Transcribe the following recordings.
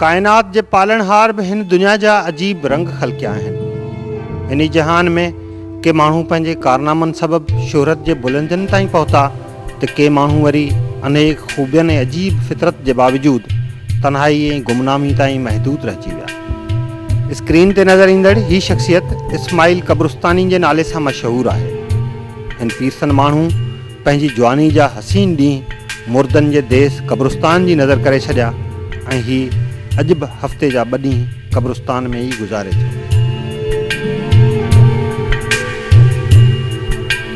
ڪائنات جي پالڻهار به هن دنيا جا عجيب رنگ خلقيا آهن انهي جهان ۾ ڪي ماڻهو پنهنجي ڪارنامن سبب شهرت جي بلندين تائين پهتا ته ڪي ماڻهو وري انيڪ خوبين ۽ عجيب فطرت جي باوجود تنهائي ۽ گمنامي تائين محدود رهجي ويا. اسڪرين تي نظر ايندڙ هي شخصيت اسماعيل قبرستاني جي نالي سان مشهور آهي. هن پيرسن ماڻهو پنهنجي جواني جا حسين ڏينهن مردن جي ديس قبرستان جي نظر ڪري ڇڏيا ۽ هي اڄ به هفتي جا ٻه ڏينهن قبرستان ۾ ئي گذاري ٿو.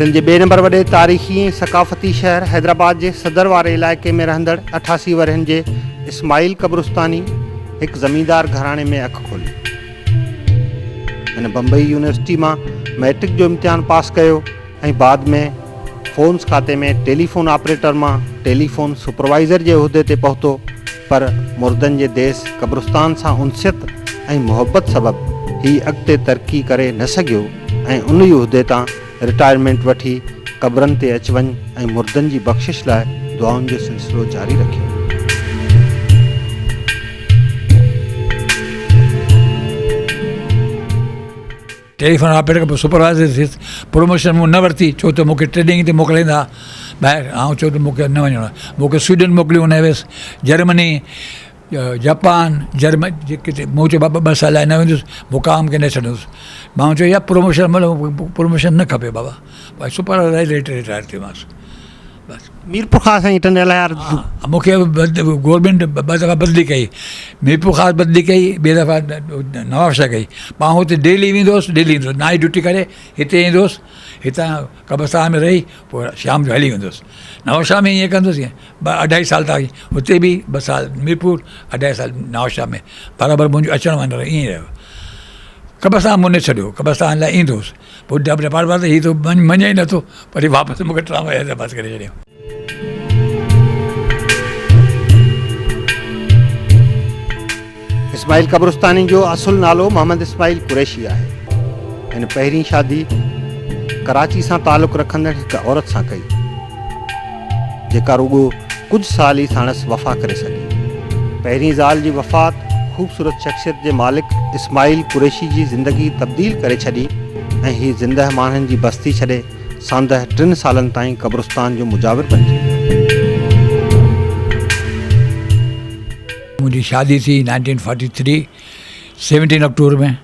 سنڌ جي ٻئي نمبر وڏي تاريخي ۽ ثقافتي شهر حيدرآباد جي صدر واري علائقي ۾ رهندڙ اٺاسي ورهين جي اسماعيل قبرستاني هڪ زميندار گهراڻي ۾ اک کولي. هن بمبئي يونيورسٽي مان مئٽرڪ جو امتحان پاس ڪيو. ۽ بعد ۾ فونس کاتي ۾ ٽيليفون آپريٽر مان ٽيليفون سپروائيزر جي عهدي تي پهتو پر مردن جي ديس قبرستان سان انسيت ۽ محبت سبب هي اڳتي ترقي ڪري نه سگهيو ۽ ان ئي عهدي تان رٽائرمينٽ وٺي قبرن تي اچ وڃ ۽ مردن جي بخشش لاء دعائن جو سلسلو جاري رکيو. ٽيليفون آپريٽر کان سپروائيزر ٿيس. پروموشن مون نه ورتي ڇو ته مون کي ٽريڊنگ تي موڪلائيندا ها ٻاهر. آئون چيو ته مون کي نه وڃڻو آهي. مون کي سوئيڊن موڪليو هن ويس جرمني، جپان، جرمن ڪٿي مون چيو بابا ٻه سال لاء نه ويندس مقام کي نه ڇڏندس. ماڻهو چيو يار پروموشن ملو، پروموشن نه کپي بابا. سپروائيزر ريٽائر ٿيو ماس. بس ميرپور خاص ۽ ٽنڊي لهار ها مون کي گورنمينٽ ٻه دفعا بدلي ڪئي ميرپور خاص بدلي ڪئي ٻي دفعا نواب شاهه ڪئي پاڻ هتي ڊيلي ويندو هوس ڊيلي ايندو هوس نائٽ ڊيوٽي ڪري هتي ايندو هوس هتان قبرستان ۾ رهي پوء شام جو هلي ويندو هوس نواب شاهه ۾ ائين ڪندو هوس ائين ٻه اڍائي سال تان هتي به ٻه سال ميرپور اڍائي سال نواب شاهه ۾ برابر منهنجو اچڻ وڃڻ ائين رهيو قبرستان مون نه ڇڏيو قبرستان لاء ايندو هوس پوء ڊپ ڊپار بار ته هي ته مڃي ئي نٿو پر واپس مون کي ٽراموا حيدرآباد ڪري ڇڏيو. اسماعيل قبرستاني جو اصل نالو محمد اسماعيل قريشي آهي. هن پهرين شادي ڪراچي سان تعلق رکندڙ هڪ عورت سان ڪئي. جيڪا رڳو ڪجهه سال ئي ساڻس وفا ڪري سگهي. پهرين زال جي وفات خوبصورت شخصيت جي مالڪ اسماعيل قريشي جي زندگي تبديل ڪري ڇڏي ۽ هي زندهه ماڻهن جي بستي ڇڏي ساندهه ٽن سالن تائين قبرستان جو مجاور بنجي ويو. منهنجي شادي ٿي nineteen forty three seventeen October ۾.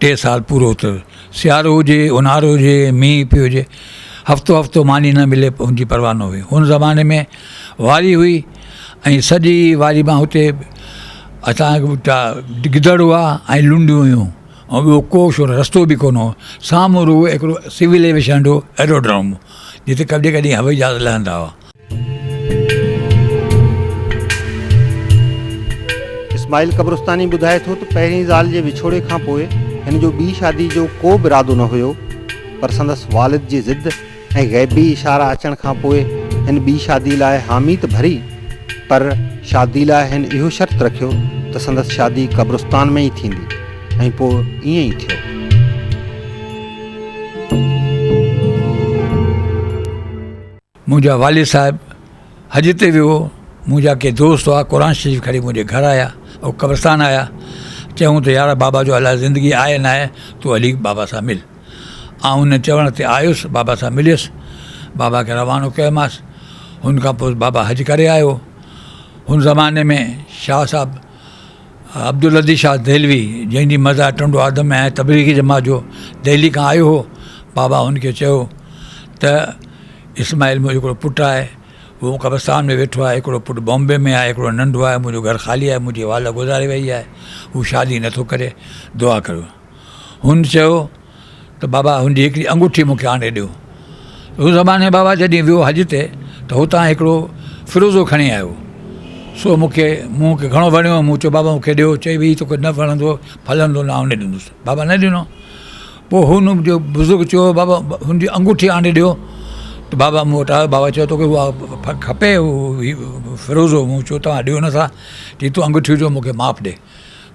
ٽي سال پورو ٿيو. سيارو هجي، اونهارو هجي، مينهن پيو هجي، هفتو هفتو ماني نه ملي ان جي پرواهه نه هئي. ان زماني ۾ واري هئي ۽ سڄي واري مان هتي اسان وٽا گدڙ هئا ۽ لنڊيون هيون ۽ ٻيو ڪو شور رستو به ڪونه هو. سامهون رڳو هڪڙو سول ايويشن جو ايروڊروم هو جتي ڪڏهن ڪڏهن هوائي جهاز لهندا هئا. اسماعيل قبرستاني ٻڌائي ٿو ته پهرين زال جي وڇوڙي کان پوء هن جو ٻي شادي جو ڪو به ارادو نه هيو پر سندس والد جي ضد ۽ غيبي اشارا اچڻ کان پوء هن ٻي شادي لاء حامي ته ڀري پر شادي لاء هن اهو شرط رکيو ته سندس شادي قبرستان ۾ ئي ٿيندي ۽ پوء ائين ئي ٿيو. منهنجا والد صاحب حج تي ويو هو، منهنجا ڪي دوست هئا قرآن شريف کڻي منهنجي گهر آيا او قبرستان آيا چيائون ته يار بابا جو الاء زندگي آهي ناهي تون هلي بابا سان مل آئون انهن چوڻ تي آيس بابا سان مليس بابا کي روانو ڪيوماس هن کان پوء بابا حج ڪري آيو هن زماني ۾ شاهه صاحب عبدالهادي شاهه دهلوي، جنهن جي مزار ٽنڊو آدم ۾ آهي، تبليغي جماعت جو دهلي کان آيو هو. بابا هن کي چيو ته اسماعيل منهنجو هڪڙو پٽ آهي، اهو قبرستان ۾ ويٺو آهي، هڪڙو پٽ بامبي ۾ آهي، هڪڙو ننڍو آهي، منهنجو گهر خالي آهي، منهنجي والده گذاري ويئي آهي، هو شادي نٿو ڪري، دعا ڪريو. هن چيو ته بابا هن جي هڪڙي انگوٺي مون کي آڻي ڏيو. روح زماني بابا جڏهن ويو حج تي ته هتان هڪڙو فروزو کڻي آيو. سو مون کي مون کي گهڻو وڻيو. مون چيو بابا مون کي ڏيو. چئي ويئي توکي نه وڻندو ڦلندو نه آئون نه ڏيندس. بابا نه ڏنو. پوء هن جو بزرگ چيو بابا هن جي انگوٺي آڻي ڏيو ته بابا مون وٽ آيو بابا چيو توکي اها کپي فروزو مون چيو توهان ڏيو نٿا چي تون انگوٺي جو مون کي ماپ ڏي.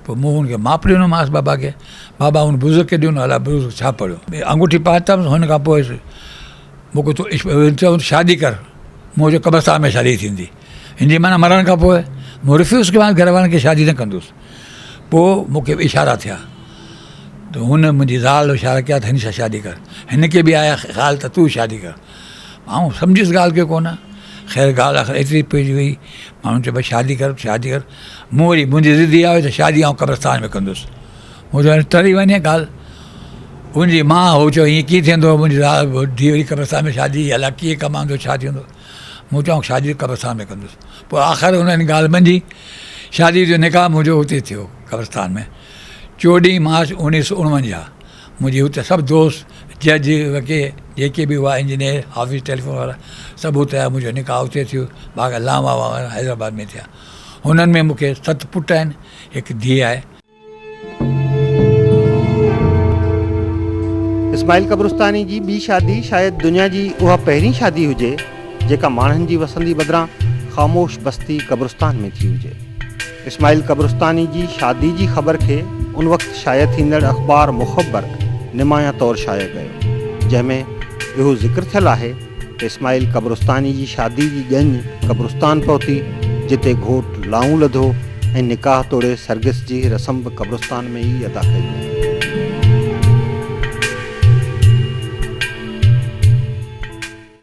پوء مون هن کي ماپ ڏنومانس بابا کي. بابا هن بزرگ کي ڏنو الاء بزرگ ڇا پڙهيو. آڱوٺي پاتم هن کان پوء مون کي تو عشق هن چيو شادي ڪر مون چيو قبرستان ۾ شادي ٿيندي هن جي معنيٰ مرڻ کان پوء مون رفيوز ڪيومانس گهر وارن کي شادي نه ڪندس پوء مون کي اشارا ٿيا ته هن منهنجي زال اشارا ڪيا ته هن سان شادي ڪر هن کي به آيا خيال ته تون شادي ڪر آئون سمجهيس ڳالهه کي ڪونه خير ڳالهه آخر ايتري پئجي وئي ماڻهن چيو بس شادي ڪر شادي ڪر مون وري منهنجي ضد اها هئي ته شادي آئون قبرستان ۾ ڪندس مون چيو ٽري وڃي ڳالهه ان جي ماء هو چيو ائين ڪيئن ٿيندو منهنجي زال ڌيء وري قبرستان ۾ شادي الا ڪيئن ڪمائندو ڇا ٿيندو مون چيو شادي قبرستان ۾ ڪندس پوء آخر ان ان ڳالهه منجهي شادي جو نڪاح منهنجو اتي ٿيو قبرستان ۾ چوڏهين مارچ اوڻيهه سو اڻونجاهه منهنجي هت سڀ دوست جج وڪيل جيڪي به هئا انجنيئر آفيس ٽيليفون وارا سڀ اتي آيا منهنجو نڪاح اتي ٿيو باقي لام وام حيدرآباد ۾ ٿيا هنن ۾ مون کي ست پٽ آهن هڪ ڌيء آهي. اسماعيل قبرستاني جي ٻي شادي شايد دنيا جي اها پهرين شادي هجي جيڪا ماڻهن جي وسندي بدران خاموش بستي قبرستان ۾ ٿي هجي. اسماعيل قبرستاني جي شادي جي خبر کي ان وقت شايع ٿيندڙ اخبار مخبر نمايان طور شايع ڪيو جنهن ۾ اهو ذڪر ٿيل آهي اسماعيل قبرستاني جي شادي جي ڄڃ قبرستان پهتي، جتي گهوٽ لائون لڌو ۽ نڪاح توڙي سرگس جي رسم به قبرستان ۾ ئي ادا ڪئي وئي.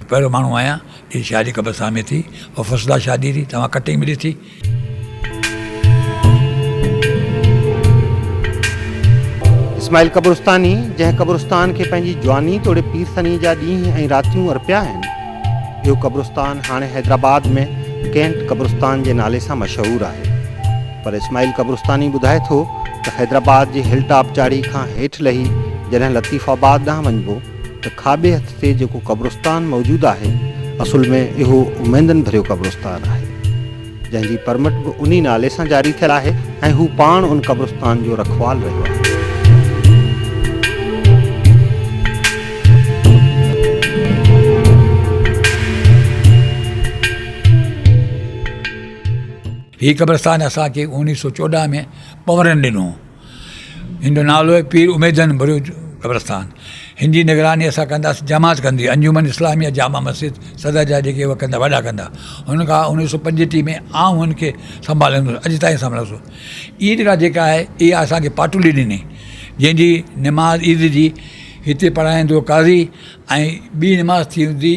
پهريون ماڻهو آهيان جنهن جي شادي قبرستان ۾ ٿي. اها فسدا شادي ٿي، توهان ڪٽنگ به ڏٺي. اسماعيل قبرستاني جنهن قبرستان کي پنهنجي جواني توڙي پيرسني جا ڏينهن ۽ راتيون ارپيا آهن، اهو قبرستان هاڻي حيدرآباد ۾ ڪينٽ قبرستان جي نالي سان مشهور آهي. پر اسماعيل قبرستاني ٻڌائي ٿو ته حيدرآباد جي هل ٽاپ چاڙهي کان هيٺ لهي جڏهن لطيف آباد ڏانهن وڃبو ته کاٻي هٿ تي جيڪو قبرستان موجود آهي اصل ۾ اهو اميدن ڀريو قبرستان آهي جنهن جي پرمٽ به انهي نالي سان جاري ٿيل آهي ۽ هو پاڻ ان قبرستان جو رکوال رهيو آهي. هي قبرستان اسان کي اوڻيهه سؤ چوڏهن ۾ پنورن ڏنو هن جو نالو آهي پير اميدن بلوچ قبرستان هن جي نگراني اسان ڪنداسين جماعت ڪندي انجمن اسلاميه جامع مسجد صدر جا جيڪي هو ڪندا وڏا ڪندا هن کان اڻويهه سو پنجٽيهه ۾ آئون هن کي سنڀالندو هوس اڄ تائين سنڀاليو سو عيد گاهه جيڪا آهي اها اسانکي پاٽولي ڏني جنهنجي نماز عيد جي هتي پڙهائيندو قاضي ۽ ٻي نماز ٿيندي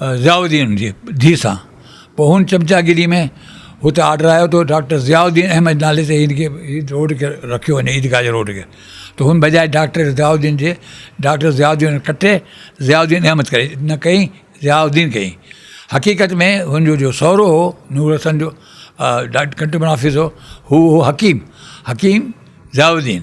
ضياء الدين جي ڌيء سان پوء هن چمچاگيري ۾ هتي آرڊر آيو ته ڊاڪٽر ضياء الدين احمد نالي تي هن کي روڊ کي رکيو وڃي عيدگاهه جي روڊ کي ته هن بجاء ڊاڪٽر ضياء الدين جي ڊاڪٽر ضياء الدين ڪٽي ضياء الدين احمد ڪري نه ڪئي ضياء الدين ڪئي حقيقت ۾ هن جو جو سهرو هو نور حسن جو ڊاڪٽر ڪنٽمڻ آفيس هو هو هو حڪيم حڪيم ضياء الدين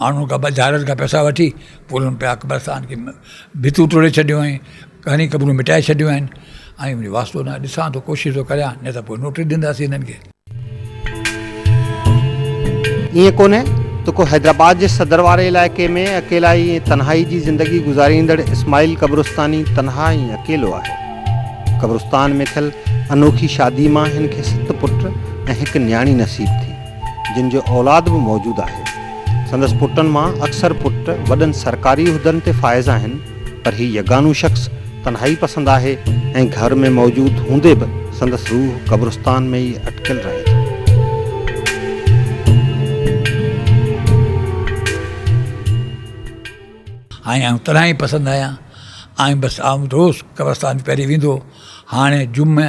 ماڻهن کان بظاهرن کان پئسا وٺي پوء انهن پيا قبرستان کي ڀتيون ٽوڙي ڇڏيون ۽ گهڻي قبرون مٽائي ڇڏيون آهن ۽ ان جو واسطو نه ڏسان ٿو ڪوشش ٿو ڪريان نه ته پوء نوٽيس ڏينداسين انهن کي. ائين ڪونهي ته ڪو حيدرآباد جي صدر واري علائقي ۾ اڪيلائي ۽ تنهائي جي زندگي گذاريندڙ اسماعيل قبرستاني تنها ۽ اڪيلو آهي. قبرستان ۾ ٿيل انوکي شادي مان هن کي ست پٽ ۽ هڪ نياڻي نصيب ٿي. جن جو اولاد به موجود آهي. سندس پٽن مان اڪثر پٽ وڏن سرڪاري عهدن تي فائز آهن پر هي يگانو شخص تنهائي پسند آهي ۽ گهر ۾ موجود هوندي به سندس روح قبرستان ۾ ئي اٽڪيل رهي ٿي. آئين آئون تنهائي پسند آهيان. آئين بس آئون روز قبرستان تي پهرين ويندو هو. هاڻي جمعي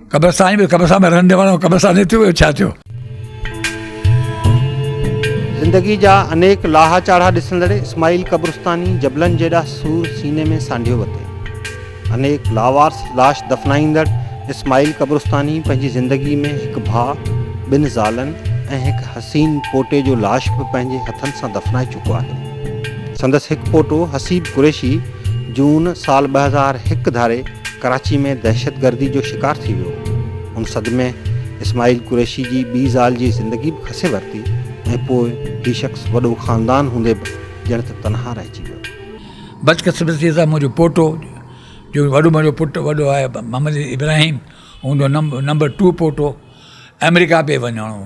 قبرستان به قبرستان ۾ رهندي ماڻهو قبرستان نه ٿيو ٻيو ڇا ٿيو. زندگي جا انيڪ لاها چاڙها ڏسندڙ اسماعيل قبرستاني جبلن جيڏا سور سيني ۾ سانڍيو وتي. انيڪ لاوارث لاش دفنائيندڙ اسماعيل قبرستاني پنهنجي زندگي ۾ هڪ ڀاء، ٻن زالن ۽ هڪ حسين پوٽي جو لاش به پنهنجي هٿن سان دفنائي چڪو آهي. سندس هڪ پوٽو حسيب قريشي جون سال ٻه هزار هڪ ڌاري ڪراچي ۾ دهشتگردي جو شڪار ٿي ويو. ان صدمي اسماعيل قريشي جي ٻي زال جي زندگي به کسي ورتي ۽ پوء هي شخص وڏو خاندان هوندي به ڄڻ ته تنها رهجي ويو. بدقسمتيء سان منهنجو پوٽو جو وڏو منهنجو پٽ وڏو آهي محمد ابراهيم هوندو نمبر ٽو پوٽو آمريڪا پئي وڃڻو هو.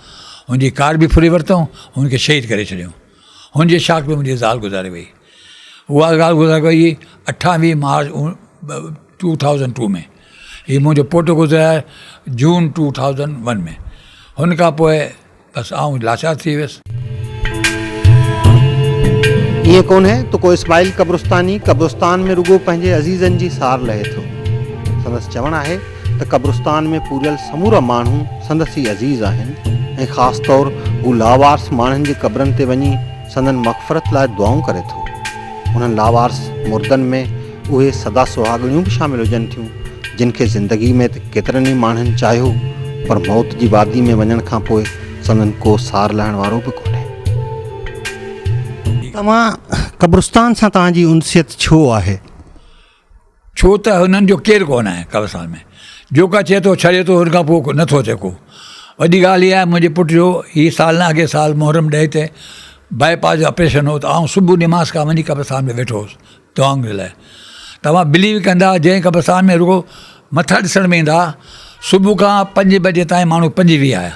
هن جي ڪار به ڦري ورتائون، هن کي شهيد ڪري ڇڏيائون. هن جي شاخ ۾ منهنجي زال گذاري وئي. اها زال گذاري وئي اٺاويهه مارچ ٽو ٿائوزنڊ ٽو ۾ هي منهنجو پٽ گذاري جون ٽو ٿائوزنڊ ون ۾ هن کان پوء بس آئون لاچار ٿي ويس. ائين ڪونهي ته ڪو اسماعيل قبرستاني قبرستان ۾ رڳو پنهنجي عزيزن جي سار لهي ٿو. سندس چوڻ آهي. ته قبرستان ۾ پوريل سمورا ماڻهو سندس ئي عزيز آهن ۽ خاص طور هو لاوارث ماڻهن جي قبرن تي وڃي سندن مغفرت لاء دعائون ڪري ٿو. انهن لاوارث مردن ۾ اهي سدا سهاڳڻيون به شامل هجن ٿيون، جن کي زندگي ۾ ته ڪيترن ئي ماڻهن چاهيو، پر موت جي وادي ۾ وڃڻ کان پوء سندن ڪو سار لهڻ وارو به ڪونهي. توهان قبرستان سان توهان جي انسيت ڇو آهي؟ ڇو ته هنن جو ڪير ڪو نه آهي قبرستان ۾، جوڪا ٿئي ٿو ڇڏي ٿو هن کان پوء نه ٿو ٿئي ڪو. وڏي ڳالهه اها آهي منهنجي پٽ جو هي سال نه اڳئين سال محرم ڏهي تي باء پاس جو آپريشن هو ته آئون صبح نماز کان وڃي قبرستان ۾ ويٺو هوس دعائن جي لاء. توهان بليو ڪندا جنهن قبرستان ۾ رڳو مٿا ڏسڻ ۾ ايندا صبح کان پنج بجي تائين ماڻهو پنج ويهه آيا.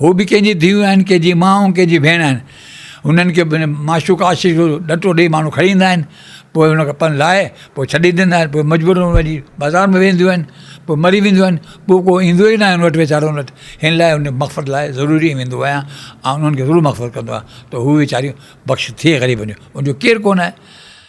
هو به ڪنهن جي ڌيئون آهن، ڪنهن جي ماء ۽ ڪنهن جي ڀيڻ آهن. انهن کي به معشوق عاشق جو ڏٽو ڏيئي ماڻهو کڻي ايندا آهن. پوء ان کان پن لاهي پوء ڇڏي ڏيندا آهن. پوء مجبورن وڃي بازار ۾ ويهنديون آهن. پوء مري وينديون آهن. پوء ڪو ايندو ئي ناهي ان وٽ ويچارن وٽ. ان لاء انهن جي مغفرت لاء ضروري ائين ويندو آهيان ۽ انهن کي ضرور مغفرت ڪندو آهيان ته هو ويچاريون بخش ٿئي غريبن جون. ان جو ڪير ڪونه آهي.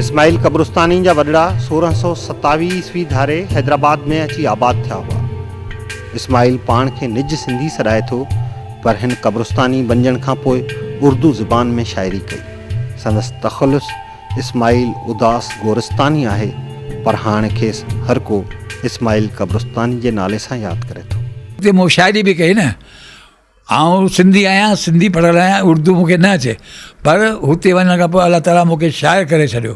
اسماعيل قبرستاني جا وڏڙا سورهن سؤ ستاويهه عيسوي ڌاري حيدرآباد ۾ اچي آباد ٿيا هئا. اسماعيل پاڻ کي نج سنڌي سڏائي ٿو پر هن قبرستاني بنجڻ کان پوء اردو زبان ۾ شاعري ڪئي. سندس تخلص اسماعيل اداس گورستاني آهي پر هاڻ کيس هر ڪو اسماعيل قبرستاني جي نالي سان ياد ڪري ٿو. اتي مون شاعري به ڪئي نه. آئون سنڌي آهيان سنڌي پڙهيل آهيان اردو مون کي نه اچي پر هتي وڃڻ کان پوء الله تعاليٰ مون کي شاعر ڪري ڇڏيو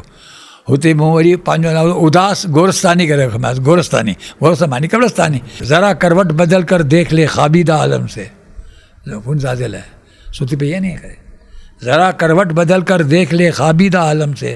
هتي مون وري پنهنجو نالو اداس گورستاني ڪري رکيومانس گورستاني گورستان معني قبرستاني ذرا کروٽ بدل کر ديک لي خوابيده عالم سي لوگون زادل هي ستي پئي آهي ن ان ڪري ذرا کروٽ بدل کر ديک لي خوابيده عالم سي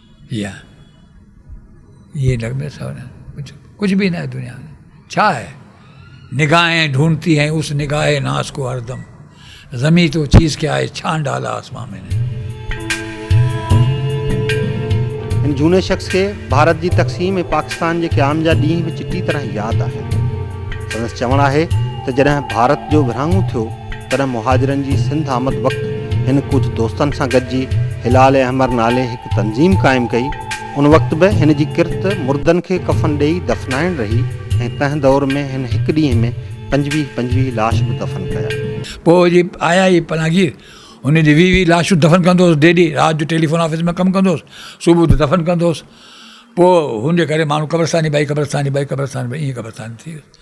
يا يي لڳندو سو نه ڪجهه ڪجهه به نه دنيا ۾ ڇا آهي نگاهين ڍونڍتي هين اس نگاهي ناس ڪو هر دم زمين تو چيز کي آهي ڇان ڍالا آسمان ۾ نه هن جهوني شخص کي ڀارت جي تقسيم ۽ پاڪستان جي قيام جا ڏينهن به چٽي طرح ياد آهن سندس چوڻ آهي ته جڏهن ڀارت جو ورهاڱو ٿيو تڏهن مهاجرن جي سنڌ آمد وقت هن ڪجهه دوستن سان گڏجي هلال احمر نالي هڪ تنظيم قائم ڪئي. ان وقت به هن جي ڪرت مردن کي ڪفن ڏيئي دفنائڻ رهي ۽ تنهن دور ۾ هن هڪ ڏينهن ۾ پنجويهه پنجويهه لاش به دفن ڪيا. پوء جي آيا هي پناهگير، هن جي ويهه ويهه لاشون دفن ڪندو هوس ڊيلي، رات جو ٽيليفون آفيس ۾ ڪم ڪندو هوس، صبح اٿي دفن ڪندو هوس. پوء هن جي ڪري ماڻهو قبرستان ئي ٻائي قبرستان ئي ٻائي قبرستان ٻائي ائين قبرستان ٿي ويس.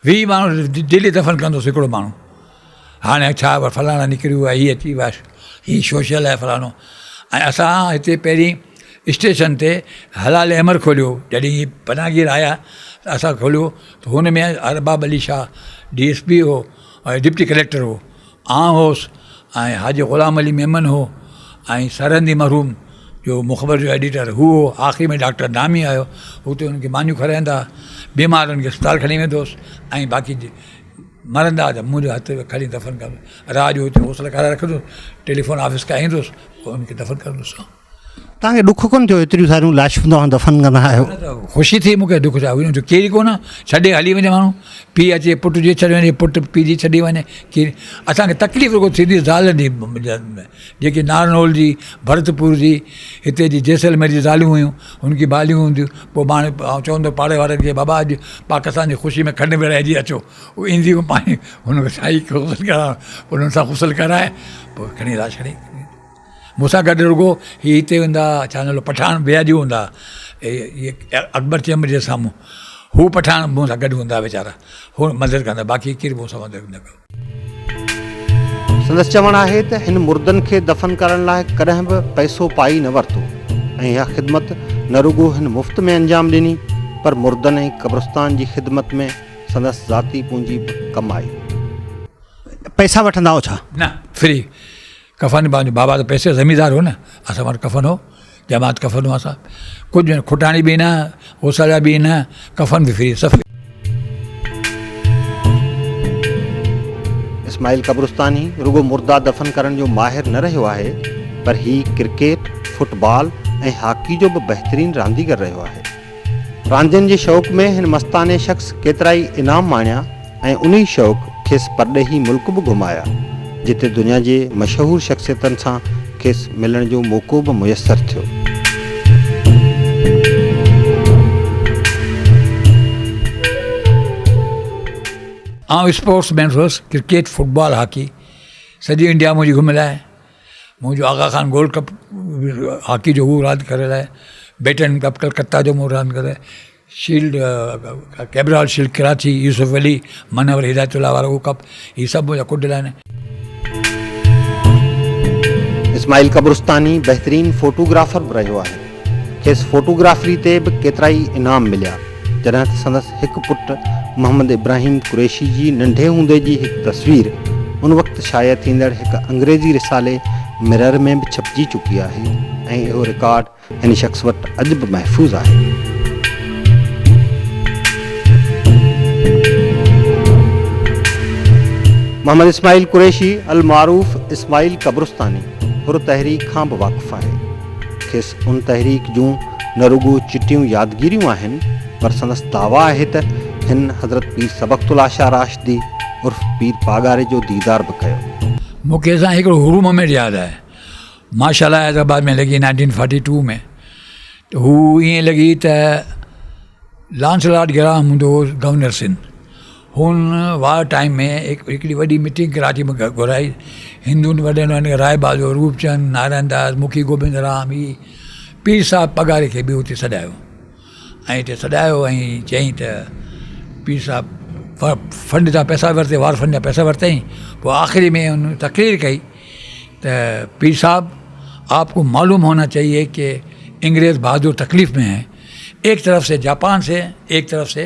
ويهه ماڻهو ڊيلي دفن ڪندوس هڪڙو ماڻهو هاڻي ڇا فلاڻا نڪري ويو آهي هي اچي ويو آهي هي سوشل آهي فلاڻو ۽ اسان هتي پهرين اسٽيشن تي حلال احمر کوليو جڏهن هي پناهگير آيا ته اسان کوليو ته هن ۾ Arbab Ali Shah D S P هو ڊپٽي ڪليڪٽر هو آئون هوس ۽ حاجي غلام علي ميمڻ هو ۽ سرهندي مرحوم جو مخبر جو ايڊيٽر هو هو آخري ۾ ڊاڪٽر دامي آيو هو ته انهن کي مانيون کارائيندا بيمارن کي اسپتال کڻي ويندو هوس ۽ باقي مرندا ته منهنجو هٿ کڻي دفن ڪندو هوس رات جو هوٽل ڪرائي رکندو هوس ٽيليفون آفيس کان ايندو هوس انهن کي دفن ڪندو هوس توهان کي ڏک ڪونه ٿيو ايتريون ساريون لاشون توهان دفن ڪندا آهيو. خوشي ٿي مون کي ڏک ڇا هو ڪير ئي ڪونه ڇڏي هلي وڃي ماڻهو پيء اچي پٽ جي ڇڏي وڃي پٽ پيء جي ڇڏي وڃي ڪير اسان کي تڪليف رڳو ٿيندي زال جي جيڪي نارنول جي ڀرتپور جي هتي جي جيسلمير جي زاليون هيون هن کي باليون هونديون پوء ماڻهو آئون چوندو پاڙي وارن کي بابا اڄ پاڪستان جي خوشي ۾ کنڊ ورهائجي اچو هو اينديون پاڻي هن کي سائي غسل ڪرائڻ انهن سان غسل ڪرائي پوء کڻي لاش کڻي مون سان گڏ رڳو هي هتي هوندا ها ڇا نالو پٺاڻ بياجو هوندا ها اڪبر چيمبر جي سامهون هو پٺاڻ مون سان گڏ هوندا ها ويچارا هو مدد ڪندا ها باقي ڪير مون سان مدد نه ڪيو سندس چوڻ آهي ته هن مردن کي دفن ڪرڻ لاء ڪڏهن به پئسو پائي نه ورتو ۽ اها خدمت نه رڳو هن مفت ۾ انجام ڏني پر مردن ۽ قبرستان جي خدمت ۾ سندس ذاتي پونجي به ڪم آئي. پئسا وٺندا هئا ڇا؟ نه فري ڪفن پنهنجو بابا ته پيسي زميندار هو نه اسان وٽ ڪفن هو جماعت ڪفن هو اسان ڪجهه کٽاڻي به نه اوساڙا به نه ڪفن به فري سب اسماعيل قبرستاني رڳو مردا دفن ڪرڻ جو ماهر نه رهيو آهي پر هي ڪرڪيٽ، فٽبال ۽ هاڪي جو به بهترين رانديگر رهيو آهي. راندين جي شوق ۾ هن مستاني شخص ڪيترائي انعام ماڻيا ۽ انهي شوق کيس پرڏيهي ملڪ به گهمايا جتي دنيا جي مشهور شخصيتن سان کيس ملڻ جو موقعو به ميسر ٿيو. آئون اسپورٽس مين هئس ڪرڪيٽ فٽبال هاڪي سڄي انڊيا منهنجي گهميل آهي. منهنجو Agha Khan gold cup hockey جو هو راند ڪريل آهي بيٽن ڪپ ڪلڪتا جو مون راند ڪري shield Cabral shield Karachi Yousuf Ali Munawar Hidayat Ullah وارو هو ڪپ هي سڀ منهنجا ڪوڊل آهن اسماعيل قبرستاني بهترين فوٽوگرافر به رهيو آهي. کيس فوٽوگرافري تي به ڪيترائي انعام مليا، جڏهن ته سندس هڪ پٽ محمد ابراهيم قريشي جي ننڍي هوندي جي هڪ تصوير ان وقت شايع ٿيندڙ هڪ انگريزي رسالي Mirror ۾ به ڇپجي چڪي آهي ۽ اهو رڪارڊ هن شخص وٽ اڄ به محفوظ آهي. محمد اسماعيل قريشي، المعروف اسماعيل قبرستاني، حر تحريڪ کان به واقف آهي. کيس ان تحريڪ جون نه رڳو چٽيون يادگيريون آهن پر سندس دعويٰ آهي ته هن حضرت پير سبقت الله شاهه راشدي عرف پير پاڳاري جو ديدار به ڪيو. مون کي سائين هڪڙو حرو مومينٽ ياد آهي ماشاءالله حيدرآباد ۾ لڳي نائنٽين فورٽي ٽو ۾ ته هو ائين لڳي ته لانس لاٽ گراهم هوندو هو گورنر سنڌ هن وار ٽائيم ۾ هڪڙي وڏي ميٽنگ ڪراچي ۾ گهرائي. هندن وڏن ۾ هن رائي بهادر، روپ چند، نارائڻ داس، مکي گوبند رام هي پير صاحب پگهاري کي به اتي سڏايو ۽ اتي سڏايو ۽ چيائين ته پير صاحب فنڊ جا پئسا ورتي وار فنڊ جا پئسا ورتائين پوء آخري ۾ هن تقرير ڪئي ته پير صاحب آپ ڪو معلوم هونا چاهيي ڪي انگريز بهادر تڪليف ۾ هين ايڪ طرف سي جاپان سي ايڪ طرف سي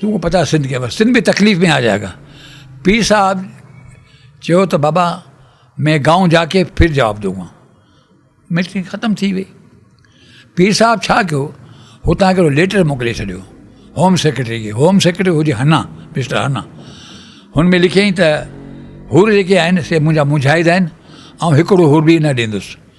تون ڪو پتا سنڌ کي سنڌ به تڪليف ۾ آ جائي گا پير صاحب چيو ته بابا مين گائون جا ڪي ڦر جواب دونگا ميٽنگ ختم ٿي وئي پير صاحب ڇا ڪيو هتان هڪڙو ليٽر موڪلي ڇڏيو هوم سيڪريٽري کي هوم سيڪريٽري هجي هنا مسٽر هنا هن ۾ لکيائين ته هور جيڪي آهن سي منهنجا مونجهائيد آهن آئون هڪڙو هور به نه ڏيندس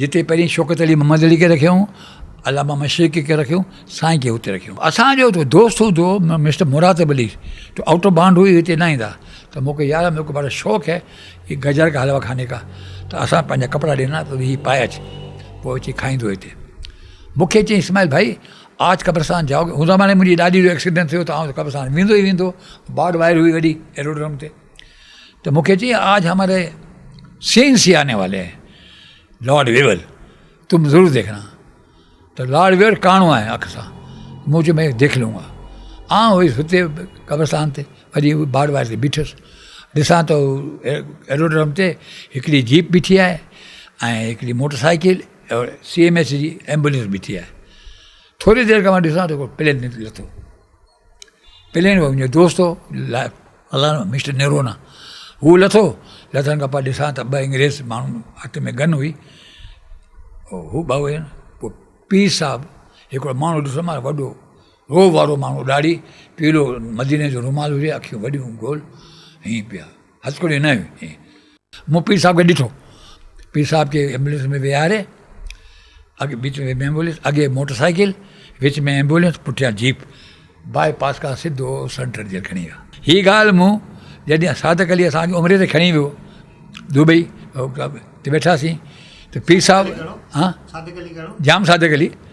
جتي پهرين شوڪت علي محمد علي کي رکيائون، علامه مشرقي کي رکيائون، سائين کي اتي رکيائون. اسان جو هڪ دوست هوندو هو مسٽر مراتب علي، جو آئوٽ آف بانڊ هئي، هتي نه ايندا ته مون کي يار ميري ڪو بڙا شوق هي يي گجر ڪا حلوا کاني ڪا ته اسان پنهنجا ڪپڙا ڏينا ته هي پائي اچ پوء اچي کائيندو هتي. مون کي چيائين اسماعيل ڀائي آج قبرستان جائوگي، ان زماني ۾ منهنجي ڏاڏي جو ايڪسيڊنٽ ٿيو ته آئون ته قبرستان ويندو ئي ويندو هو، بارڊ وائر هئي وڏي ايروڊرم تي. ته مون کي چيائين آج هماري سين سي آني والي هين لارڊ ويول تم ضرور ديکنا ته لارڊ ويول ڪاڻو آهي اک سان مون چيو مين ديک لونگا آ هئس هتي قبرستان تي وڃي بارڊ واري تي بيٺس ڏسان ته ايروڊرم تي هڪڙي جيپ بيٺي آهي ۽ هڪڙي motorcycle C M H جي ايمبولينس بيٺي آهي ٿوري دير کان مان ڏسان ٿو پلين لٿو پلين منهنجو دوست هو فلاڻو مسٽر نرونا هو لٿو لٿڻ کان پوء ڏسان ته ٻه انگريز ماڻهو هٿ ۾ گن هئي هو ٻه هئا پوء پير صاحب هڪڙو ماڻهو ڏسو مانس وڏو روب وارو ماڻهو ڏاڙهي پيلو مديني جو رومال هجي اکيون وڏيون گول ائين پيا هسڪڙيون نه هيون. مون پير صاحب کي ڏٺو. پير صاحب کي ايمبولينس ۾ ويهاري اڳ وچ ۾ ايمبولينس اڳي موٽر سائيڪل وچ ۾ ايمبولينس پٺيان جيپ باء پاس کان سڌو سنٽرل جيل کڻي ويا هي ڳالهه مون جڏهن صادق علي اسان کي عمري تي کڻي ويو دبئي ته ويٺاسين ته پير صاحب جام صادق علي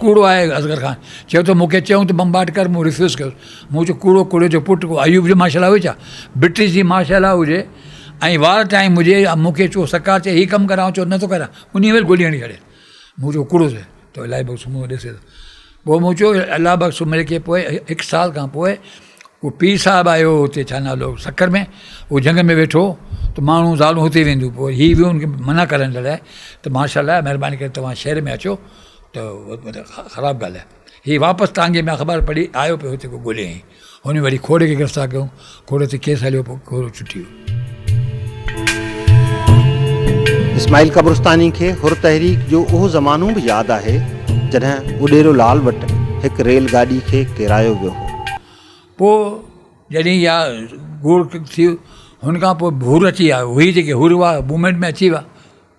ڪوڙو آهي اصغر خان چيو ته مون کي چيون ته بمبارڊ ڪر مون ريفيوز ڪيو مون چيو ڪوڙو ڪوڙي جو پٽ ڪو ايوب جي مارشل لا هئي ڇا برٽش جي مارشل لا هجي ۽ وار ٽائيم هجي مون کي چو سرڪار چي هي ڪم ڪر آئون چو نٿو ڪريان انهي مهل گولي هڻي ڇڏي مون چيو ڪوڙو سهي تو الائي بخش مون ڏسي ٿو پوء مون چيو الله بخش سومري کي پوء هڪ سال کان پوء هو پير صاحب آيو هو اتي ڇا نالو سکر ۾ هو جهنگ ۾ ويٺو ته ماڻهو زالون هتي وينديون پوء هي ويو ان کي منع ڪرڻ جي لاء ته ماشاء الله مهرباني ڪري تواهان شهر ۾ اچو ته خراب ڳالهه آهي هي واپس ٽانگي ۾ اخبار پڙهي آيو پيو هتي ڳوليائين هن وري کوڙ کي گرفتار ڪيو کوڙ تي ڪيس هليو پوء کوڙ ڇٽي ويو اسماعيل قبرستاني کي حر تحريڪ جو اهو زمانو به ياد آهي جڏهن اڏيرو لال وٽ هڪ ريل گاڏي کي ڪيرايو ويو هو. پوء جڏهن اها گوڙ ٿي هن کان پوء ڀور اچي ويا هئي جيڪي حر هئا موومينٽ ۾ اچي ويا.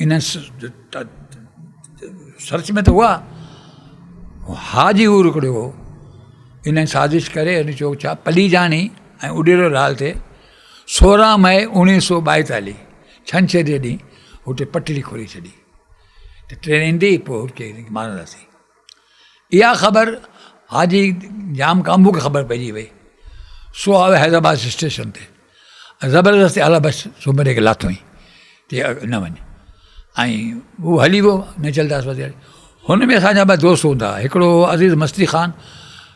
ان سرچ ۾ ته هئا ها جي هور هڪڙو هو ان سازش ڪري ان چو ڇا پليجاڻي ۽ اڏيرو لال تي سورهن مئي اوڻيهه سو ٻائيتاليهه ڇنڇر جي ڏينهن هتي پٽڙي کولي ڇڏي ته ٽرين ايندي پوء هتي مارنداسين اها خبر حاجي ڄام ڪامبو کي خبر پئجي وئي سو آيو حيدرآباد اسٽيشن تي ۽ زبردستي اعليٰ بخش سومري کي لاٿوئين چي نه وڃ ۽ هو هلي ويو نچلداس وزير هن ۾ اسان جا ٻه دوست هوندا هڪڙو عزيز مستي خان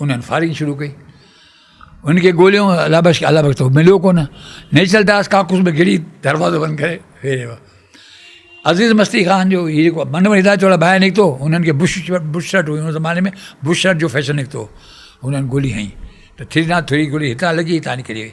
انهن فائرنگ شروع ڪئي ان کي گوليون الا بخش الا بخش تو مليو ڪونه نيچل داس ڪاڪوس ۾ گھڙي دروازو بند ڪري ويهي رهيو عزيز مستي خان جو هي جيڪو من وري هدايت وارا ڀائر نڪتو هنن کي بش بش شرٽ هئي ان زماني ۾ بش شرٽ جو فيشن نڪتو هنن گولي هنئي ته ٿري ناٽ ٿري گولي هتان لڳي هتان نڪري وئي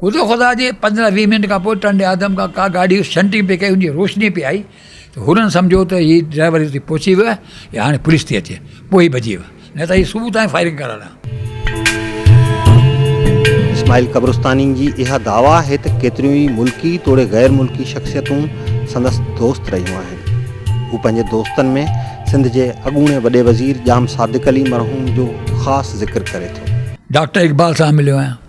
خدا خدا جي پندرهن ويهه منٽ کان پوء ٽنڊي آدم کان ڪا گاڏي شنٽنگ پئي ڪئي ان جي روشني پئي آئي ته هنن سمجهيو ته هي ڊرائيور هتي پهچي ويو آهي يا هاڻي پوليس ٿي اچي پوء ئي ڀڄي ويو نه ته هي صبح تائين فائرنگ ڪرڻ ها. اسماعيل قبرستاني جي اها دعويٰ آهي ته ڪيتريون ئي ملڪي توڙي غير ملڪي شخصيتون سندس دوست رهيون آهن. هو پنهنجي دوستن ۾ سنڌ جي اڳوڻي وڏي وزير ڄام صادق علي مرحوم جو خاص ذڪر ڪري ٿو. ڊاڪٽر اقبال سان مليو آهيان.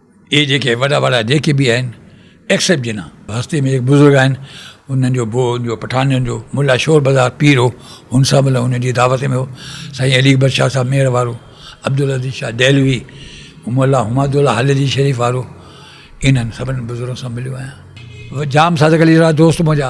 اهي جيڪي وڏا وڏا جيڪي به آهن ايڪسپٽ جناح هستي ۾ هڪ بزرگ آهن انهن جو بو جو پٺاڻين جو ملا شور بزار پير هو هن سان مطلب هن جي دعوت ۾ هو سائين علي اڪبر شاهه صاحب مير وارو عبدالعزيز شاهه دهلوي ملا حماد الله حليلي شريف وارو انهن سڀني بزرگن سان مليو آهيان جام صادق علي جا دوست منهنجا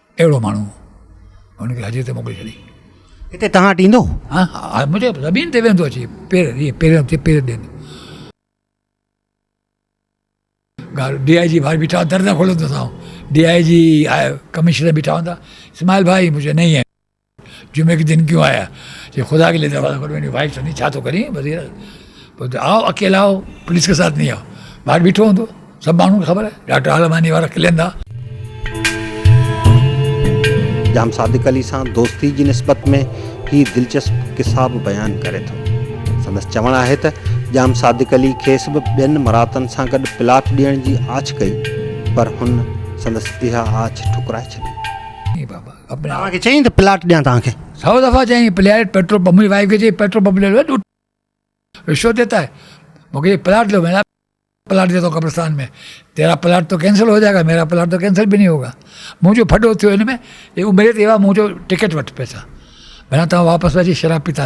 اهڙو ماڻهو هن کي حج تي موڪلي ڇڏي. هتي تان وٽ ايندو؟ ها ها منهنجي زمين تي ويهندو اچي پير ائين پيرن تي پير ڏيندو. ڳالهه ڊي آء جي ٻاهر بيٺا در نه کولندو سان ڊي آء جي ڪمشنر بيٺا هوندا اسماعيل ڀائي مجهي نهي هي. جمعي ڪي دن ڪيون آيا جي خدا ڪي ليه دروازه کولو انهي وائيٽ سندي ڇا ٿو ڪرين وزير بولتي آء اڪيلا هو پوليس ڪي ساٿ نهي هو ٻاهر بيٺو هوندو سڀ ماڻهن کي خبر آهي ڊاڪٽر عالماني وارا کلين ٿا جام صادق علي سان دوستي جي نسبت ۾ هي دلچسپ قصا به بيان ڪري ٿو. سندس چوڻ آهي ته جام صادق علي کيس به ٻين مراتن سان گڏ پلاٽ ڏيڻ جي آڇ ڪئي پر هن سندس اها آڇ ٺڪرائي ڇڏي. توهان کي چيائين ته پلاٽ ڏيان توهان کي. سؤ دفعا چيائين پلياٽ پيٽرول پمپ منهنجي وائيف کي چيائين پيٽرول پمپ لي لو ڏوٽ رشوت ديتا هي مون کي چيائين پلاٽ لو مين ڪها پلاٽ ديتا هو قبرستان ۾ تيرا پلاٽ تو ڪينسل هو جائي گا ميرا پلاٽ تو ڪينسل به نهي هو گا منهنجو ڦڏو ٿيو هن ۾ اهو ميري تي ايوا مون چيو ٽڪيٽ وٺ پئسا ڀيڻا توهان واپس اچي شراب پيتا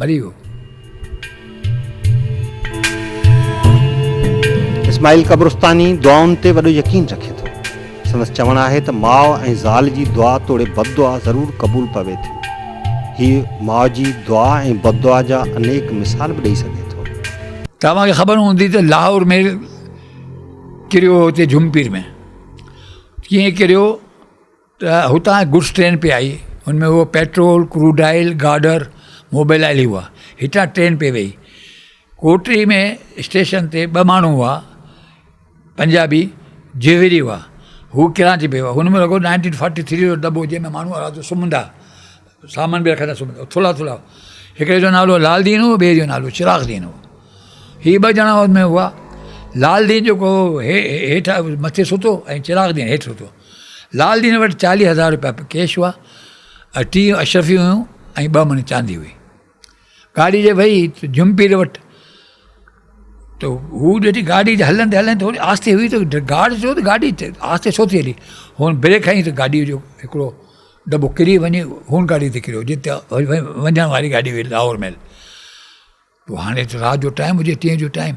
مري ويو. اسماعيل قبرستاني دعائن تي وڏو يقين رکي ٿو. سندس چوڻ آهي ته ماء ۽ زال جي دعا توڙي بددعا ضرور قبول پوي ٿي. هي ماء جي دعا ۽ بددعا جا انيڪ مثال به ڏئي سگهي ٿو. توهان کي خبر هوندي ته لاهور مير ڪريو هو اتي جهمپير ۾ ڪيئن ڪريو. ته هتان گڊس ٽرين پئي آئي، ان ۾ هو petrol, crude oil, girder, mobil oil هئا. هتان ٽرين پئي ويهي. ڪوٽڙي ۾ اسٽيشن تي ٻه ماڻهو هئا، پنجابي جهوري هئا. هو ڪراچي پئي ويا. هن ۾ رڳو نائنٽين فورٽي ٿري جو دٻو جنهن ۾ ماڻهو آرام سان سمهندا. سامان به رکندڙ سمهندڙ هو. ٿلها ٿلها هو. هڪڙي جو نالو لعل دين هو، ٻئي جو نالو چراغ دين هو. هي ٻه ڄڻا ان ۾ هئا. لعل دين جيڪو هو، هيٺ مٿي ستو ۽ چراغ دين هيٺ ستو. لعل دين وٽ چاليهه هزار روپيا ڪيش هئا ۽ ٽيهه اشرفيون هيون ۽ ٻه مڻ چاندي هئي. گاڏي جي وئي ته جھمپير وٽ ته هو ڏٺي گاڏي جي هلندي هلندي ٿوري آستي هئي ته گارڊ چيو ته گاڏي آستي ڇو ٿي هلي هن بريڪ هنئي ته گاڏي جو هڪڙو دٻو ڪري وڃي هن گاڏي تي ڪريو جتي وڃڻ واري گاڏي هئي لاهور ميل پوء هاڻي رات جو ٽائيم هجي ٽي جو ٽائيم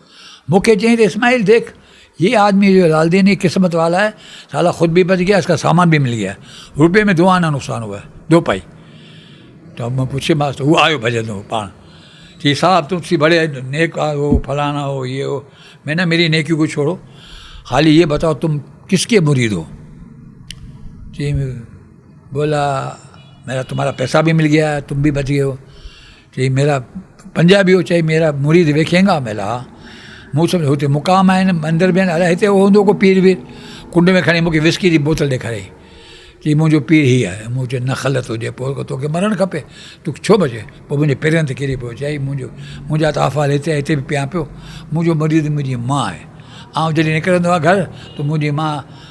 مون کي چيائين ته اسماعيل ديک يي آدمي جو لالدين ھي قسمت والا ھي سالا خود بھي بچ گيا اسڪا سامان بھي مل گيا روپيي مي دو آنا نقصان ھوا دو پائي تو مون پڇي ماس ته ھو آيو ڀڄندو پاڻ چي صاحب تون سي بڙي نيڪ ھو فلانا ھو يي ھو مي نه ميري نيڪي ڪو ڇوڙو خالي يي بتائو تم ڪس ڪي مريد ھو چي بولا ميرا تمھارا پيسا بھي مل گيا تم بھي بچ گيو چئي ميرا پنجابي هو چئي ميرا مريد ويکينگا ملا مون سمجهيو هتي مقام آهن مندر به آهن الاء هتي هوندو ڪو پير وير ڪنڊ ۾ کڻي مونکي وسڪي جي بوتل ڏيکاريائين چئي منهنجو پير هي آهي مون چيو نه خلت هجي پوء توکي مرڻ کپي تو ڇو بچي پوء منهنجي پيرن تي ڪري پيو چئي منهنجو منهنجا ته احوال هتي آهي هتي به پيان پيو منهنجو مريد منهنجي ماء آهي آئون جڏهن نڪرندو آهيان گهر ته منهنجي ماء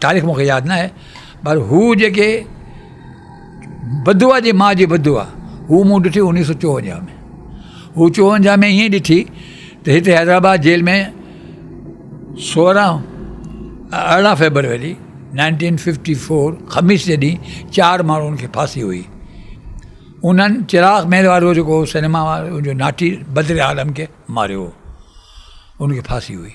تاريخ مونکي ياد ناهي پر هو جيڪي بدوعا جي ماء جي بدوعا هو مون ڏٺي انيس سو چوونجاهه ۾ هو چوونجاهه ۾ ائين ڏٺي ته هتي حيدرآباد جيل ۾ سورهن ارڙهن فيبروري نائنٽين ففٽي فور خميس جي ڏينهن چار ماڻهن کي ڦاسي هئي انهن چراغ مهل وارو جيڪو هو سينيما وارو جو ناٺي بدر عالم کي ماريو هو انکي ڦاسي هئي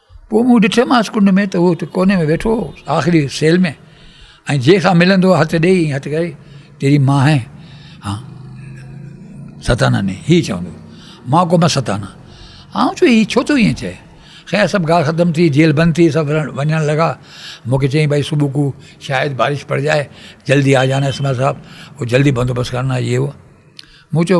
پوء مون ڏٺومانس ڪنڊ ۾ ته هو هتي ڪوني ۾ ويٺو هو آخري سيل ۾ ۽ جنهن سان ملندو هو هٿ ڏئي ائين هٿ ڪري تيري مان هين ها ستانا ني هي چوندو مان ڪو مان ستانا آئون چو هي ڇو ٿو ائين چئي خير سڀ ڳالهه ختم ٿي جيل بند ٿي سڀ وڃڻ لڳا مونکي چيائين بھائی صبح کو شايد بارش پڙ جائي جلدي آ جانا اسما صاحب هو جلدي بندوبست ڪرنا هي هو مون چيو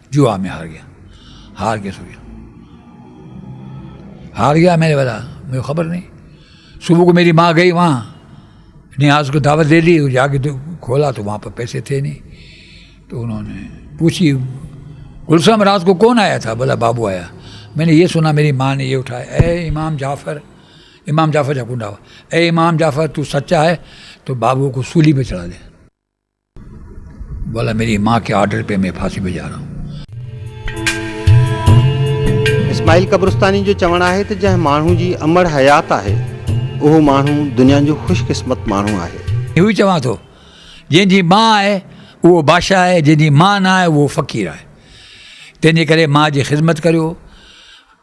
جوا ۾ هار گيا هار ڪيس هو گيا هار گيا ميري والا مجھے خبر نهي صبح کو ميري ماء گئي وهان نياز کو دعوت دي دي جا کي کولا تو وهان پر پيسي ٿي نهي تو انهو ني پوچي گلسام رات کو ڪون آيا ٿا بولا بابو آيا مين ني يه سنا ميري ماء ني يه اٺايا اي امام جعفر امام جعفر جا ڪنڊا هئا اي امام جعفر تو سچا هي تو بابو کو سولي پي چڙها دي بولا ميري ماء کي آرڊر پي مين ڦاسي پي جا رھا ھون. اسماعيل قبرستاني جو چوڻ آهي ته جنهن ماڻهو جي امڙ حيات آهي اهو ماڻهو دنيا جو خوش قسمت ماڻهو آهي. اهو ئي چوان ٿو جنهن جي ماء آهي اهو بادشاهه آهي جنهن جي ماء نه آهي اهو فقير آهي تنهن جي ڪري ماء جي خدمت ڪريو.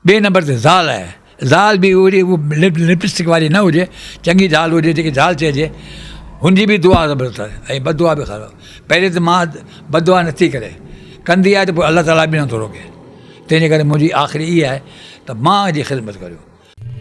ٻئي نمبر تي زال آهي، زال به اهڙي لپسٽڪ واري نه هجي، چڱي زال هجي جيڪي زال چئجي، هن جي به دعا زبردست آهي ۽ بددعا به خراب، پهرين ته ماء بددعا نٿي ڪري، ڪندي آهي ته پوء الله تعاليٰ به نٿو روڪي، تنهنجي ڪري منهنجي آخري اها آهي ته ماء جي خدمت ڪريو.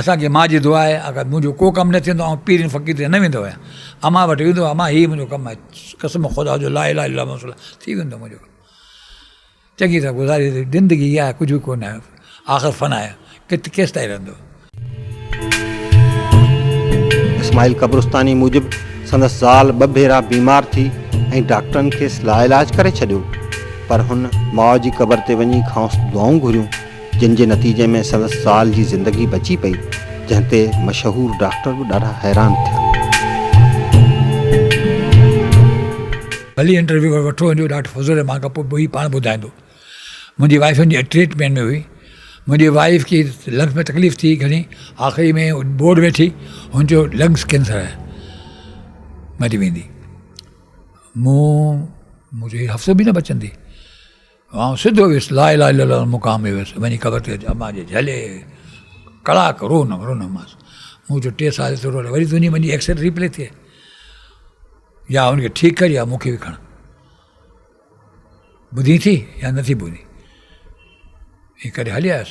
اسان کي ماء جي دعا آهي اگر منهنجو ڪو ڪم نه ٿيندو آئون پيرين فقير ڏي نه ويندو آهيان امان وٽ ويندو امان هي منهنجو ڪم آهي قسم خدا جو لا اله الا الله ٿي ويندو منهنجو ڪم چڱي طرح گذاري زندگي اها آهي ڪجهه ڪو نه آهي آخر فنا آهي ڪت ڪيس تائين رهندو اسماعيل قبرستاني موجب سندس زال ٻه ڀيرا بيمار ٿي ۽ ڊاڪٽرن کيس لا علاج ڪري ڇڏيو پر هن ماء جي قبر تي وڃي کانئس دعائون گهريون جنهن جي نتيجي ۾ سندس زال جي زندگي بچي پئي، جنهن تي مشهور ڊاڪٽر به ڏاڍا حيران ٿيا. ڀلي انٽرويو وري وٺو هونديو ڊاڪٽر فضل الرحمان کان پوء هي پاڻ ٻڌائيندو. منهنجي وائيف ان جي ٽريٽمينٽ ۾ هئي. منهنجي وائيف کي لنگس ۾ تڪليف ٿي گهڻي آخري ۾ بورڊ ويٺي هن چيو لنگس ڪينسر هي مري ويندي مون مون چيو هي هفتو به نه بچندي. آئون سڌو ويس لا اله الا الله مقام ۾ ويس وڃي قبر تي امان جي جهلي ڪلاڪ رونم رونم مانس مون چيو ٽي سال ٿورو وري تنهنجي منهنجي ايڪسل ريپلي ٿئي يا ان کي ٺيڪ ڪر يا مون کي به کڻ ٻڌي ٿي يا نٿي ٻڌي ائين ڪري هلي آيس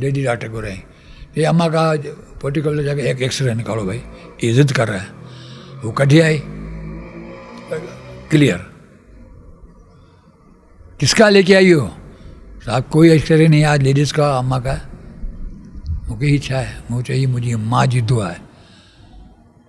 ڊيڊي ڊاڪٽر گهرائين چي اما کا پرٽيڪولر جا ڪي هڪ ايڪسري نڪالو ڀائي اي ضد ڪر رها هي هو ڪڍي آئي ڪليئر ڪس کا ليڪي آئي هو صاحب ڪوئي ايڪسري نهي آج ليڊيز کا اما کا مون کي هي ڇا آهي مون چيو هي منهنجي ماء جي دعا آهي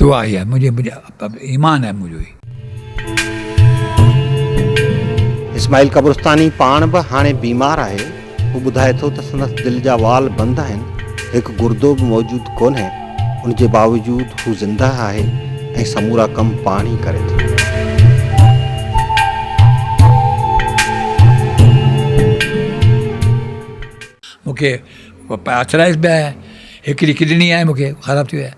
دعا هي آهي منهنجي ايمان آهي منهنجو هي. اسماعيل قبرستاني پاڻ به هاڻي بيمار آهي. هو ٻڌائي ٿو ته سندس دل جا وال بند آهن، هڪ گردو به موجود ڪونهي، ان جي باوجود هو زندهه آهي ۽ سمورا ڪم پاڻ ئي ڪري ٿو. مون کي پئرٿلائز به آهي، هڪڙي ڪڊني آهي مون کي خراب ٿي وئي آهي.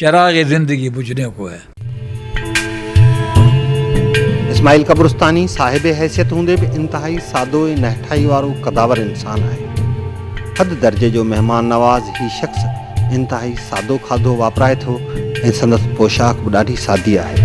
چراغ زندگي بجھنے ڪو ھي. اسماعيل قبرستاني صاحب حيثيت هوندي به انتهائي سادو ۽ نهٺائي وارو قداور انسان آهي. حد درجي جو مهمان نواز هي شخص انتهائي سادو کاڌو واپرائي ٿو ۽ سندس پوشاڪ به ڏاڍي سادي آهي.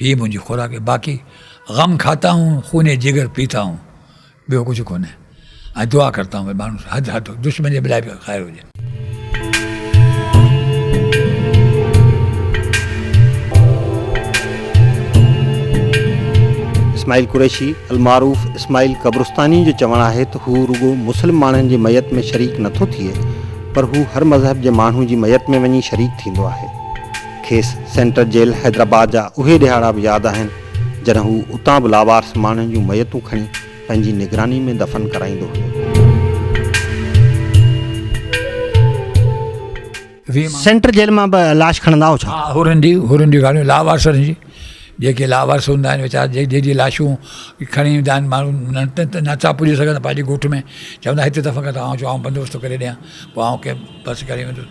هيء منهنجي خوراڪ باقي غم کاتا هون خون جگر پيتا هون ٻيو ڪجهه ڪونهي ۽ دعا ڪرتا هون ماڻهو حد حد دشمن جي بلاء به خير هجي. اسماعيل قريشي المعروف اسماعيل قبرستاني جو چوڻ آهي ته هو رڳو مسلم ماڻهن جي ميت ۾ شريڪ نٿو ٿئي پر هو هر مذهب جي ماڻهو جي ميت ۾ وڃي شريڪ ٿيندو آهي. کيس سينٽرل جيل حيدرآباد جا اهي ڏهاڙا به ياد آهن، جڏهن هو اتان به لاوارث ماڻهن جون ميتون کڻي پنهنجي نگراني ۾ دفن ڪرائيندو هيو. سينٽرل جيل مان به لاش کڻندا هئو ڇا؟ هورن جي، هورن جي ڳالهيون، لاوارثن جي، جيڪي لاوارث هوندا آهن ويچارا، جي جيڪي لاشون کڻي ايندا آهن ماڻهو، نه نٿا پڄي سگهن ته پنهنجي ڳوٺ ۾ چوندا هتي دفن ڪر ته آئون چون آئون بندوبست ٿو ڪري ڏيان، پوء آئون ڪنهن بس ڪري ويندس.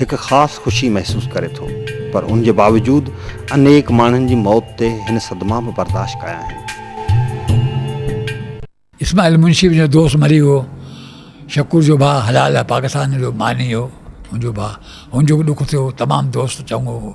هڪ خاص خوشي محسوس ڪري ٿو پر ان جي باوجود انيڪ ماڻهن جي موت تي هن صدما به برداشت ڪيا آهن. اسماعيل منشي به جو دوست مري ويو، شڪور جو ڀاء حلال پاڪستان جو ماني هو، هن جو ڀاء، هن جو به ڏک ٿيو، تمام دوست چڱو هو،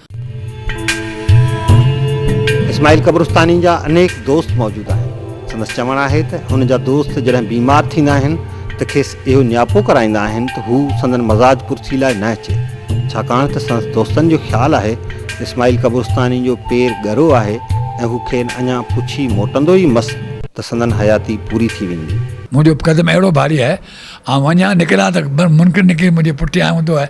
اسماعيل قبرستاني جا انيڪ دوست موجود آهن. سندس چوڻ آهي ته هن جا دوست جڏهن بيمار ٿيندا آهن ته کيس اهو نياپو ڪرائيندا آهن ته هو سندن مزاج پرسي لاء نه اچي ڇاڪاڻ ته سندس دوستن جو خيال آهي ته اسماعيل قبرستاني جو پير ڳرو آهي ۽ هو کين اڃا پڇي موٽندو ئي مس ته سندن حياتي پوري ٿي ويندي. منهنجو قدم اهڙو ڀاري آهي، آئون وڃان نڪران ته منڪر نڪري منهنجي پٺيان ايندو آهي.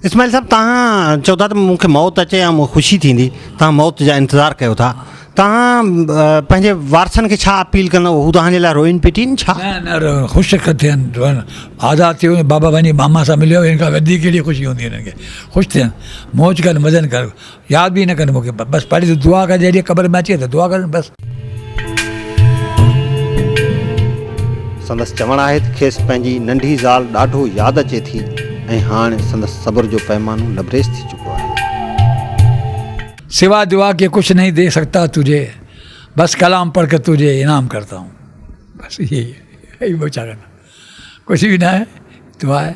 اسماعيل صاحب توهان چئو ٿا ته مون کي موت اچي يا مون کي خوشي ٿيندي توهان موت جا انتظار ڪيو ٿا توهان پنهنجي وارثن کي ڇا اپيل ڪندو هو توهان جي لاء روئين پٽين ڇا نه نه خوش ٿين آزاد ٿي وڃن بابا وڃي ماما سان مليو هن کان وڌيڪ ڪهڙي خوشي هوندي هنن کي خوش ٿين موج ڪن مزن ڪن ياد به نه ڪن مون کي بس پڙهي ته دعا ڪر جڏهن قبر ۾ اچي ته دعا ڪرن بس. سندس چوڻ آهي ته کيس پنهنجي ننڍي زال ڏاڍو ياد اچي ٿي ۽ هاڻ سندس صبر جو پيمانو لبريز ٿي چڪو آهي. سوا دعا ڪي ڪچھ نهين دي سگتا تجھي بس ڪلام پڙھ ڪر تجھي انعام ڪرتا هون بس اهي ئي آهن ٻيو ڇا ڪندا. ڪجهه به ناهي دعا آهي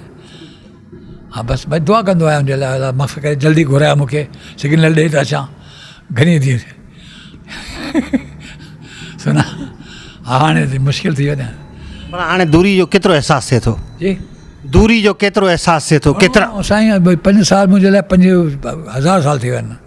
ها بس بس دعا ڪندو آهيان جي الله الا مس ڪري جلدي گهرايا مونکي سگنل ڏي ته اچان گهني ٿي سنا هاڻي ته مشڪل ٿي وڃا پر هاڻي دوري جو ڪيترو احساس ٿئي ٿو جي دوري جو ڪيترو احساس ٿئي ٿو ڪيترا سائين پنج سال منهنجي لاء پنج هزار سال ٿي ويا آهن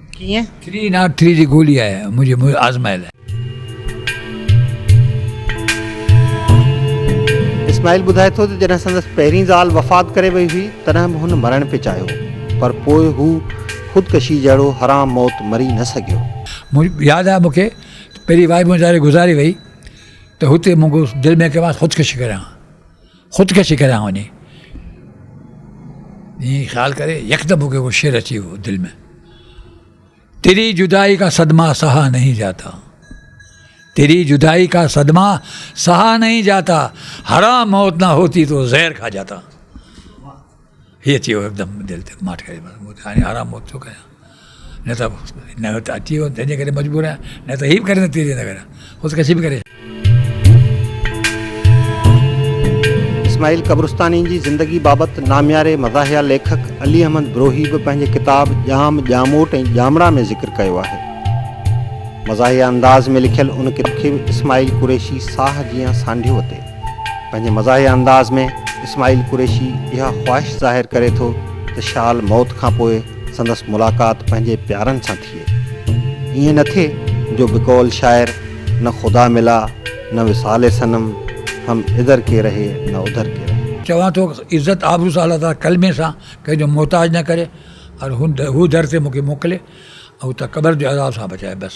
ڪيئن؟ ٿري ناٽ ٿري جي گولي آهي منهنجي آزمايل. اسماعيل ٻڌائي ٿو ته جڏهن سندس پهرين زال وفات ڪري وئي هئي تڏهن به هن مرڻ پئي چاهيو پر پوء هو خودڪشي جهڙو حرام موت مري نه سگهيو. مون ياد آهي مون کي پهرين وائي منهنجي ڌاري گذاري وئي ته هتي مون دل ۾ ڪيو مانس خودڪشي ڪريان. خودڪشي ڪريان وڃي ائين خيال ڪري يڪدم مون کي اهو شعر اچي ويو دل ۾ تيري جدائي کا صدما سها نهي جاتا تيري جدائي کا صدما سها نهي جاتا حرام موت نه هوتي تو زهر کها جاتا هيء چيو هڪدم دل تي ماٺ ڪري بس مون هاڻي آرام موت ٿو ڪريان نه ته نه ته اچي ويو تنهنجي ڪري مجبور آهيان نه ته هي به ڪري نٿي نه ڪريان خودڪشي به ڪري اسماعيل قبرستاني جي زندگي بابت نامياري مزاحيه ليکڪ علي احمد بروهي به پنهنجي ڪتاب ڄام، ڄاموٽ ۽ ڄامڙا ۾ ذڪر ڪيو آهي. مزاحيه انداز ۾ لکيل ان ڪتاب کي به اسماعيل قريشي ساهه جيان سانڍيو اتي. پنهنجي مزاحيه انداز ۾ اسماعيل قريشي اها خواهش ظاهر ڪري ٿو ته شال موت کان پوء سندس ملاقات پنهنجي پيارن سان ٿئي. ائين نه ٿئي جو بقول شاعر نه خدا ملا نه وصال صنم هم ادھر ڪي رهي نه ادھر ڪي رهي. چوان ٿو عزت آبرو سان الله تعاليٰ ڪلمي سان ڪنهن جو محتاج نه ڪري اور هو در تي مون کي موڪلي ۽ هتان قبر جي عذاب سان بچائي بس.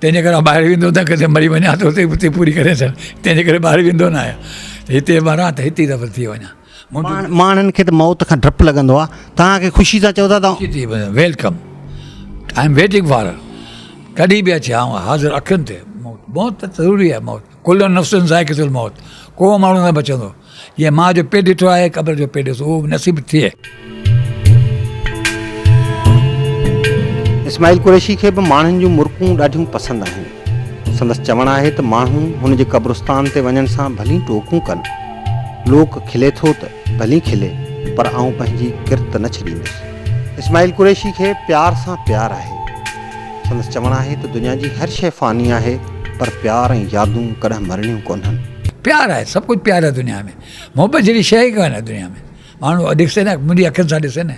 تنهنجي ڪري ٻاهر ويندو نه ڪٿي مري وڃان ته اتي اتي پوري ڪري ڇڏ تنهنجي ڪري ٻاهر ويندو نه آهيان هتي مران ته هتي دفن ٿي وڃان ماڻهن کي ته موت کان ڊپ لڳندو آهي توهان کي خوشي سان چئو ٿا ته welcome I am waiting for ڪڏهن به اچي آئون حاضر اکين تي موت موت ته ضروري آهي موت ڪل نفسن ذائقة الموت ڪو ماڻهو نه بچندو جنهن ماء جو پيٽ ڏٺو آهي، قبر جو پيٽ ڏسو، اهو به نصيب ٿئي. اسماعيل قريشي کي به ماڻهن جون مرڪون ڏاڍيون پسند آهن. سندس چوڻ آهي ته ماڻهو هن جي قبرستان تي وڃڻ سان ڀلي ٽوڪون ڪن. لوڪ کلي ٿو ته ڀلي کلي پر آئون پنهنجي ڪرت نه ڇڏيندس. اسماعيل قريشي کي پيار سان پيار آهي. سندس چوڻ آهي ته دنيا جي هر شيء فاني آهي پر پيار ۽ يادون ڪڏهن مرڻيون ڪونهن. پيار آهي سڀ ڪجهه پيار آهي دنيا ۾، محبت جهڙي شيء ئي ڪانهي دنيا ۾، ماڻهو ڏسي نه منهنجي اکين سان ڏسي نه.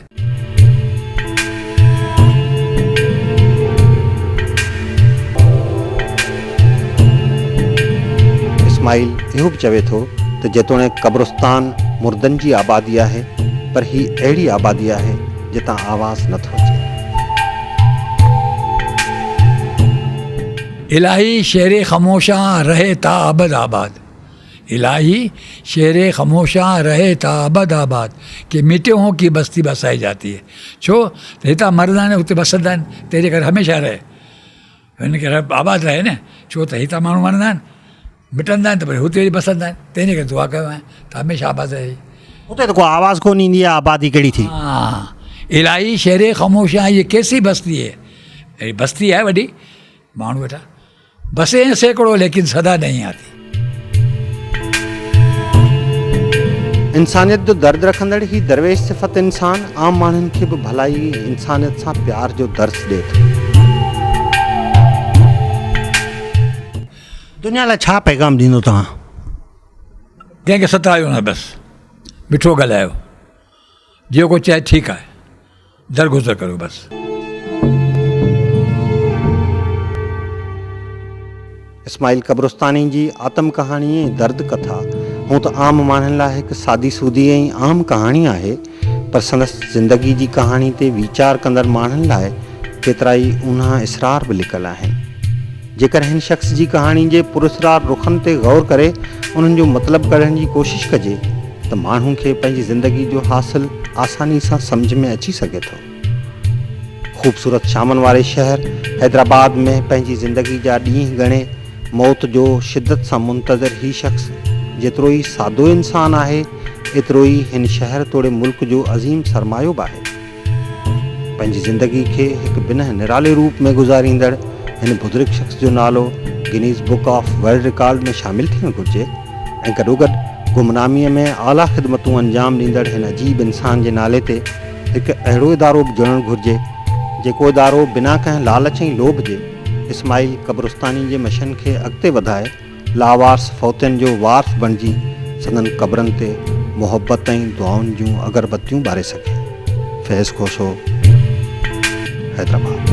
اسماعيل اهو به چوي ٿو ته جيتوڻيڪ قبرستان مردن جي آبادي آهي پر هي اهڙي آبادي آهي جتان آواز نه ٿو اچي. الاهي شهر خموشان رهي تا ابد آباد الاهي شهر خموشان رهي تا ابد آباد ڪي ميٽي هون ڪي بستي بسائي جاتي هي ڇو ته هتان مرد آهن اتي بسدا آهن تنهنجي ڪري هميشه رهي. هن کي رب آباد رهي نه ڇو ته هتان ماڻهو مرندا آهن مٽندا آهن ته وري هتي اچي بسندا آهن تنهنجي ڪري دعا ڪيو آهيان ته هميشه آباد رهي هتي ته ڪو آواز ڪونه ايندي آهي آبادي ڪهڙي ٿي الاهي شهري خاموش آهي هي ڪيسي بستي هي اهڙي بستي آهي وڏي ماڻهو ويٺا بسي هين سيڪڙو ليڪن صدا نهين آتي انسانيت جو درد رکندڙ هي درويش صفت انسان عام ماڻهن کي به ڀلائي ۽ انسانيت سان پيار جو درس ڏئي ٿو. دنيا لاء ڇا پيغام ڏيندو توهان؟ ڪنهن کي ستايو نه بس مٺو ڳالهايو. جيڪو چئي ٺيڪ آهي درگذر ڪريو بس. اسماعيل قبرستاني جي آتم ڪهاڻي ۽ درد ڪٿا هونء ته عام ماڻهن لاء هڪ سادي سودي ۽ عام ڪهاڻي آهي، پر سندس زندگي جي ڪهاڻي تي ويچار ڪندڙ ماڻهن لاء ڪيترائي اونها اسرار به لڪل آهن. جيڪر هن شخص جي ڪهاڻي جي پراسرار رخن تي غور ڪري انهن جو مطلب ڪڍڻ جي ڪوشش ڪجي ته ماڻهو کي پنهنجي زندگي جو حاصل آساني سان سمجهه ۾ اچي سگهي ٿو. خوبصورت شامن واري شهر حيدرآباد ۾ پنهنجي زندگي جا ڏينهن ڳڻي موت جو شدت سان منتظر هي شخص جيترو ئي سادو انسان آهي ايترو ئي هن شهر توڙي ملڪ جو عظيم سرمايو به آهي. پنهنجي زندگي کي هڪ بنهه نرالي روپ ۾ گذاريندڙ هن بزرگ شخص جو نالو Guinness book of world record ۾ شامل ٿيڻ گهرجي ۽ گڏوگڏ گمناميء ۾ اعليٰ خدمتون انجام ڏيندڙ هن عجيب انسان جي نالي تي هڪ اهڙو ادارو به جڙڻ گهرجي جيڪو ادارو بنا ڪنهن لالچ ۽ لوڀ جي اسماعيل قبرستاني جي مشن کي اڳتي وڌائي لاوارث فوتين جو وارث بڻجي سندن قبرن تي محبت ۽ دعائن جون اگربتيون ٻاري سگهي. فيض کوسو، حيدرآباد.